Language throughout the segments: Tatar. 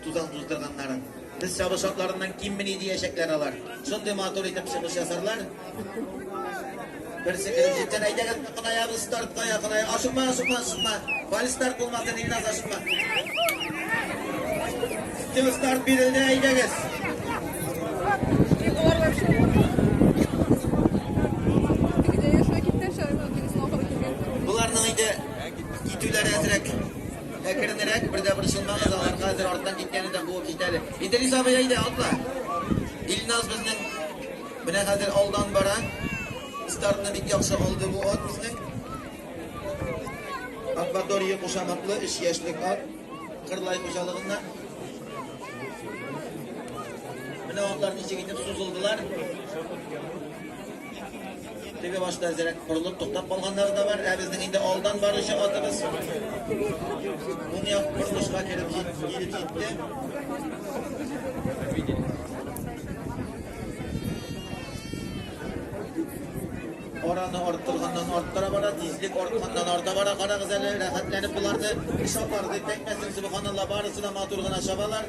Тузан туздырганнарын. Без чабыш шартларыннан киммени диячәкләр алар. Шундый матур итеп чыгыш ясарлар. Берсе кереп җиткән әйдәгез кынаябыз стартка якыная. Ашыкма, ашыкма, ашыкма. Фаль старт булмасын, Илназ ашыкма. Тем старт бирелде, әйдәгез. Буларның инде китүләре әзрәк. Әкренрәк, бер дә борчылмагыз, аларга хәзер арттан киткәне дә буып җитә әле. Идрис абый әйдә, атла. Илназ безнең менә хәзер алдан бара. Стартны бик яхшы алды бу ат безнең. Акватория кушаматлы 3 яшьлек ат. Кырлай хуҗалыгында. Менә атлар ничек итеп сузылдылар. Теге башта әзерәк борылып туктап калганнары да бар, ә безнең инде алдан баручы атыбыз уң як борылышка кереп килеп җитте. Араны арттырганнан арттыра бара, тизлек артканнан арта бара. Карагыз әле, рәхәтләнеп боларны, шапарды, тәкмәсен, субханалла, барысы да матур гына чабалар.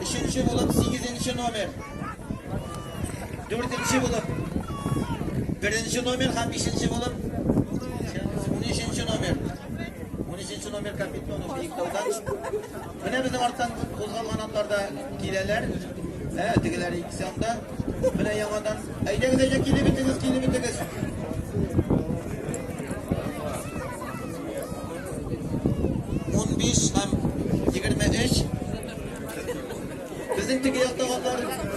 Өченче булып сигезенче номер. Дүртенче булып беренче номер һәм бишенче булып унөченче номер. Унөченче номер Капитонов Биектаудан. Менә безнең арттан кузгалган атлар да киләләр. Ә, тегеләр икесе анда. Менә яңадан. Әйдәгез, әйдә, килеп бетегез, килеп бетегез. Унбиш һәм егерме өч. Безнең теге яктагылар